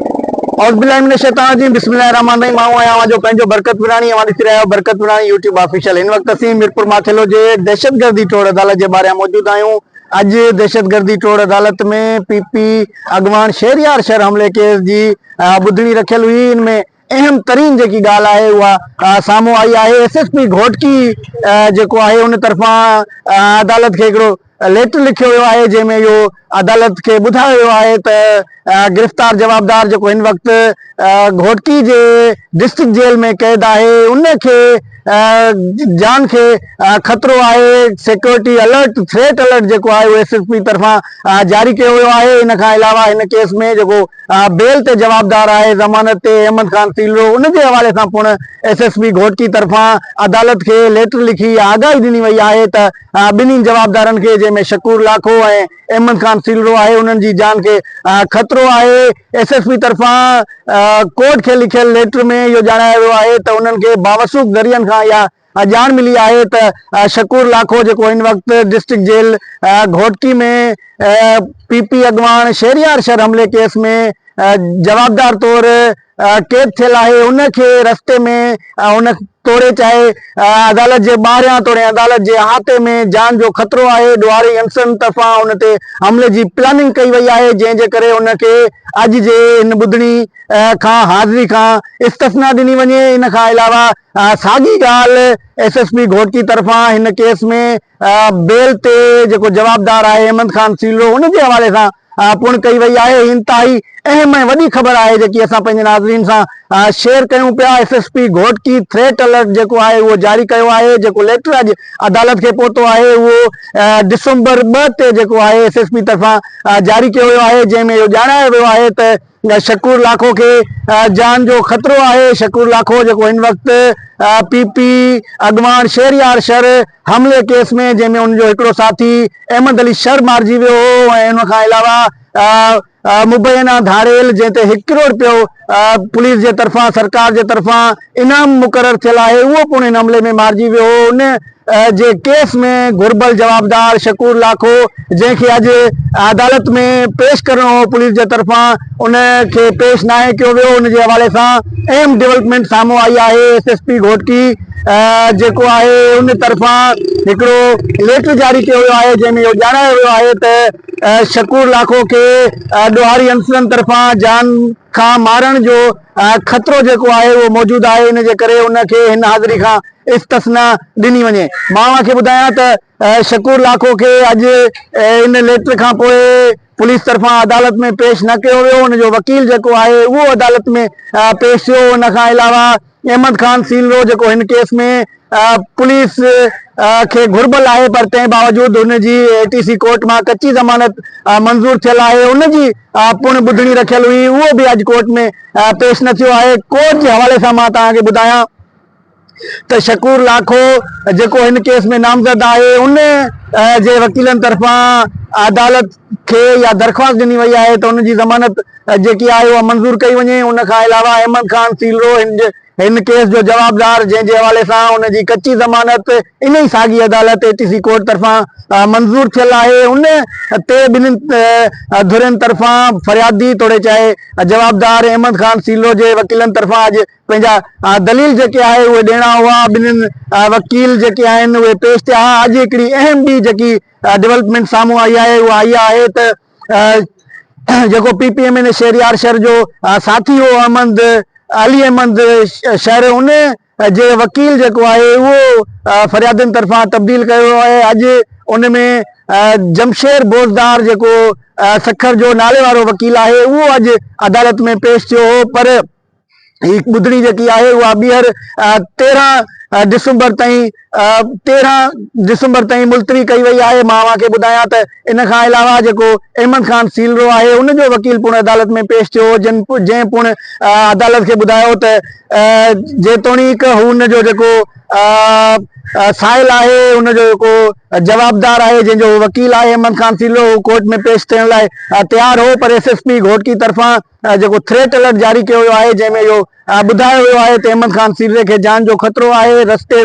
اعوذ بالله من الشيطان الرجيم بسم الله الرحمن الرحيم آئون آهيان اوهان جو پنهنجو برڪت پراڻي اوهان ڏسي رهيا آهيو برڪت پراڻي يوٽيوب آفيشل هن وقت اسين ميرپور ماٿيلو جي دهشتگردي ٽوڙ عدالت جي ٻاهريان موجود آهيون اڄ دهشتگردي ٽوڙ عدالت ۾ پي پي اڳواڻ شهريار شهر حملي ڪيس جي ٻڌڻي رکيل هئي ان ۾ اهم ترين جيڪي ڳالهه آهي اها سامهون آئي آهي ايس ايس پي گهوٽڪي جيڪو آهي ان طرفان عدالت کي هڪڙو ليٽر لکيو ويو آهي جنهن ۾ اهو عدالت کي ٻڌايو ويو آهي ته گرفتار جوابدار جيڪو هن وقت گهوٽڪي جي ڊسٽرڪٽ جيل ۾ قيد آهي ان کي جان کي خطرو آهي سيڪيورٽي الرٽ ٿريٽ الرٽ جيڪو آهي اهو ايس ايس پي طرفان جاري ڪيو ويو آهي ان کان علاوه هن ڪيس ۾ جيڪو بيل تي جوابدار آهي ضمانت تي احمد خان سيلرو ان جي حوالي سان پڻ ايس ايس پي گهوٽڪي طرفان عدالت کي ليٽر لکي آگاهي ڏني وئي آهي ته ٻنهي جوابدارن کي جنهن ۾ شڪور لاکو ۽ احمد خان سيلرو آهي انهن جي جان کي خطرو آهي ايس ايس پي طرفان ڪورٽ کي لکيل ليٽر ۾ اهو ڄاڻايو ويو آهي ته انهن کي باوثوق ذريعن کان اها ڄاڻ ملي آهي ته شڪور لاکو جيڪو هن وقت district jail Ghotki ۾ P P اڳواڻ شهريار شر حملي ڪيس ۾ جوابدار طور قيد ٿيل آهي ان کي رستي ۾ ان توڙي چاهي عدالت جي ٻاهريان توڙي عدالت جي احاطي ۾ جان جو خطرو آهي ڏوهاري انسرن طرفان ان تي حملي جي پلاننگ ڪئي وئي آهي جنهن جي ڪري ان کي اڄ جي هن ٻڌڻي کان حاضري کان استثنا ڏني وڃي ان کان علاوه ساڳي ڳالهه ايس ايس پي گهوٽڪي طرفان هن ڪيس ۾ بيل تي جيڪو جوابدار آهي احمد خان سيلرو ان جي حوالي سان پڻ ڪئي وئي آهي. هي انتهائي اهم ۽ وڏي خبر آهي جيڪي اسان پنهنجي ناظرين سان شيئر ڪيون پيا. S S P Ghotki threat alert جيڪو آهي اهو جاري ڪيو آهي جيڪو ليٽر اڄ عدالت کي پهتو آهي اهو ڊسمبر ٻه تي جيڪو آهي ايس ايس پي طرفان جاري ڪيو ويو آهي جنهن ۾ اهو ڄاڻايو ويو آهي ته شڪور لاکو کي جان جو خطرو آهي، شڪور لاکو جيڪو هن وقت پي پي اڳواڻ شهريار شر حملي ڪيس ۾ جنهن ۾ ان جو هڪڙو ساٿي احمد علي شر مارجي ويو هو ۽ ان کان علاوه مبينا ڌاڙيل جنهن تي هڪ ڪروڙ رپيو پوليس جي طرفان سرڪار جي طرفان انعام مقرر ٿيل آهي اهو پڻ ان حملي ۾ مارجي ويو هو ان جي ڪيس ۾ گهربل جوابدار شڪور لاکو جنهن کي اڄ عدالت ۾ پيش ڪرڻو هو پوليس جي طرفان ان کي پيش ناهي ڪيو ويو ان جي حوالي سان اهم ڊولپمينٽ سامهون آئي آهي ايس ايس پي گهوٽڪي جيڪو آهي ان طرفان هڪڙو ليٽر جاري ڪيو ويو آهي جنهن ۾ اهو ڄاڻايو ويو آهي ته شڪور لاکو کي ڏوهاري انصرن طرفان جان کان مارڻ جو خطرو جيڪو آهي اهو موجود آهي ان جي ڪري ان کي هن حاضري کان استثنا ڏني وڃي. مان اوهان کي ٻڌايان ته شڪور لاکو کي اڄ ان ليٽر کان پوء پوليس طرفان عدالت ۾ پيش نه ڪيو ويو، ان جو وڪيل جيڪو آهي اهو عدالت ۾ پيش ٿيو، ان کان علاوه احمد خان سيلرو جيڪو هن ڪيس ۾ پوليس کي گهربل آهي پر تنهن باوجود هن جي اي ٽي سي ڪورٽ مان ڪچي ضمانت منظور ٿيل آهي ان جي پڻ ٻڌڻي رکيل هئي اهو به اڄ ڪورٽ ۾ پيش نه ٿيو آهي ڪورٽ جي حوالي سان مان توهان کي ٻڌايان ته شڪور لاکو جيڪو هن ڪيس ۾ نامزد آهي ان جي وڪيلن طرفان عدالت کي يا درخواست ڏني وئي آهي ته ان جي ضمانت جيڪي آهي اها منظور ڪئي وڃي ان کان علاوه احمد خان سيلرو هن جي هن ڪيس جو جوابدار جنهن جي حوالي سان ان جي ڪچي ضمانت ان ئي ساڳي عدالت اي ٽي سي ڪورٽ طرفان منظور ٿيل آهي ان تي ٻنهين ڌرين طرفان فريادي توڙي چاهي جوابدار احمد خان سيلو جي وڪيلن طرفان اڄ پنهنجا دليل جيڪي آهي اهي ڏيڻا هئا ٻنهين وڪيل جيڪي آهن اهي پيش ٿيا اڄ هڪڙي اهم ٻي جيڪي ڊولپمينٽ سامهون آئي آهي اها اها آهي ته جيڪو P P M N A Shehryar Shar جو ساٿي هو احمد علي احمد شر ان جي وڪيل جيڪو آهي اهو فريادين طرفان تبديل ڪيو ويو آهي اڄ ان ۾ جمشير بوزدار جيڪو سکر جو نالي وارو وڪيل آهي اهو اڄ عدالت ۾ پيش ٿيو هو پر هي ٻڌڻي جيڪي آهي اها ٻيهر تيرهن ڊسمبر تائين تيرهن ڊسمبر تائين ملتوي ڪئي وئي آهي مان اوهان کي ٻڌايان ته ان کان علاوه جيڪو احمد خان سيلرو آهي ان جو وڪيل پڻ عدالت ۾ پيش ٿيو هو جن جنهن پڻ عدالت کي ٻڌايو ته جيتوڻيڪ هو ان جو جيڪو سائل آهي ان جو جيڪو جوابدار آهي جنهن جو وڪيل آهي احمد خان سيلرو هو ڪورٽ ۾ پيش ٿيڻ لاء تيار هو پر ايس ايس پي گهوٽڪي طرفان جيڪو ٿريٽ الرٽ جاري ڪيو ويو آهي جنهن ۾ اهو ٻڌايو ويو آهي ته احمد خان سيرزي کي جان جو خطرو آهي رستي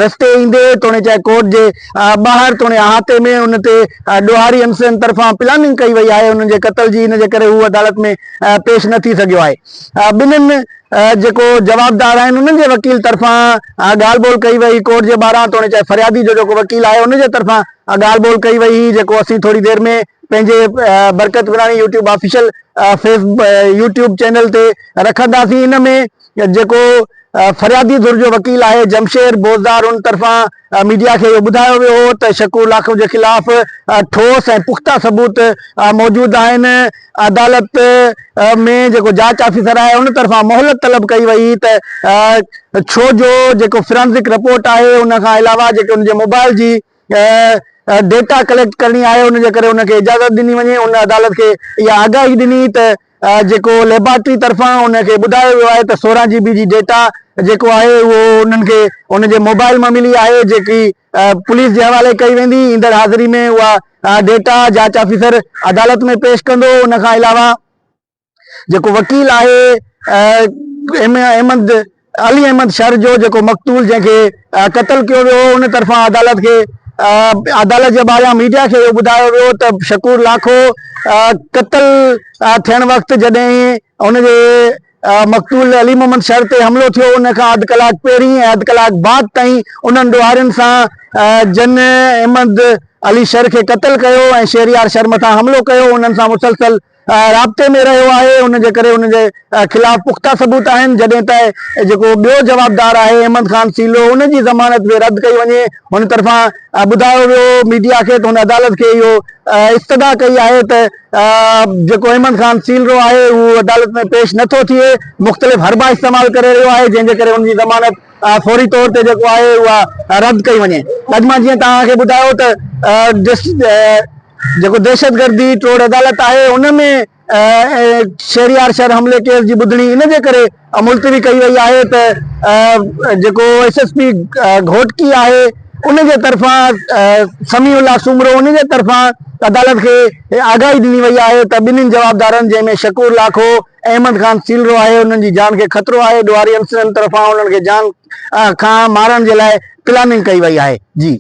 رستي ايندي توڻي چاهي ڪورٽ جي ٻاهر توڻي احاطي ۾ ان تي ڏوهاري انصرن طرفان پلاننگ ڪئي وئي آهي انهن جي قتل جي ان جي ڪري هو عدالت ۾ پيش نه ٿي سگهيو آهي ٻنهن جيڪو جوابدار آهن انهن جي وڪيل طرفان ڳالهه ٻولهه ڪئي وئي ڪورٽ جي ٻاهران توڻي چاهي فريادي جو جيڪو وڪيل آهي ان جي طرفان ڳالهه ٻولهه ڪئي وئي هئي جيڪو اسين ٿوري دير ۾ پنهنجي Barkat Warani YouTube official face YouTube channel تي رکنداسين ان ۾ جيڪو فريادي ڌر جو وڪيل آهي جمشير بوزدار ان طرفان ميڊيا کي اهو ٻڌايو ويو هو ته شڪور لاکو جي خلاف ٺوس ۽ پختا ثبوت موجود آهن عدالت ۾ جيڪو جاچ آفيسر آهي ان طرفان مهلت طلب ڪئي وئي ته ڇو جو جيڪو فرانزڪ رپورٽ آهي ان کان علاوه جيڪي ان جي موبائل جي ڊيٽا ڪليڪٽ ڪرڻي آهي ان جي ڪري ان کي اجازت ڏني وڃي ان عدالت کي اها آگاهي ڏني ته جيڪو ليبارٽري طرفان ان کي ٻڌايو ويو آهي ته سورهن جي بي جي ڊيٽا جيڪو آهي اهو انهن کي ان جي موبائل مان ملي آهي جيڪي پوليس جي حوالي ڪئي ويندي ايندڙ حاضري ۾ اها ڊيٽا جاچ آفيسر عدالت ۾ پيش ڪندو ان کان علاوه جيڪو وڪيل آهي احمد علي احمد شر جو جيڪو مقتول جنهن کي قتل ڪيو ويو ان طرفان عدالت کي عدالت جي ٻاهريان ميڊيا کي اهو ٻڌايو ويو ته شڪور لاکو قتل ٿيڻ وقت جڏهن ان جي مقتول علي محمد شر تي حملو ٿيو ان کان اڌ ڪلاڪ پهرين ۽ اڌ ڪلاڪ بعد تائين انهن ڏوهارين سان جن احمد علي شر کي قتل ڪيو ۽ شهريار شر مٿان حملو ڪيو انهن سان مسلسل رابطي ۾ رهيو آهي ان جي ڪري ان جي خلاف پختا ثبوت آهن جڏهن ته جيڪو ٻيو جوابدار آهي احمد خان سيلو ان جي ضمانت به رد ڪئي وڃي هن طرفان ٻڌايو ويو ميڊيا کي ته هن عدالت کي اهو استدعا ڪئي آهي ته جيڪو احمد خان سيلرو آهي اهو عدالت ۾ پيش نٿو ٿئي مختلف حربا استعمال ڪري رهيو آهي جنهن جي ڪري ان جي ضمانت فوري طور تي جيڪو آهي اها رد ڪئي وڃي اڄ مان جيئن توهان کي ٻڌايو ته جيڪو دهشتگردي ٽوڙ عدالت آهي ان ۾ شهريار شهر حملي ڪيس جي ٻڌڻي ان جي ڪري ملتوي ڪئي وئي آهي ته جيڪو ايس ايس پي گهوٽڪي آهي ان جي طرفان سميع الله سومرو ان جي طرفان عدالت کي آگاهي ڏني وئي آهي ته ٻنهي جوابدارن جنهن ۾ شڪور لاکو احمد خان سيلرو آهي انهن جي جان کي خطرو آهي ڏوهاري عنصرن طرفان انهن کي جان کان مارڻ جي لاء پلاننگ ڪئي وئي آهي جي.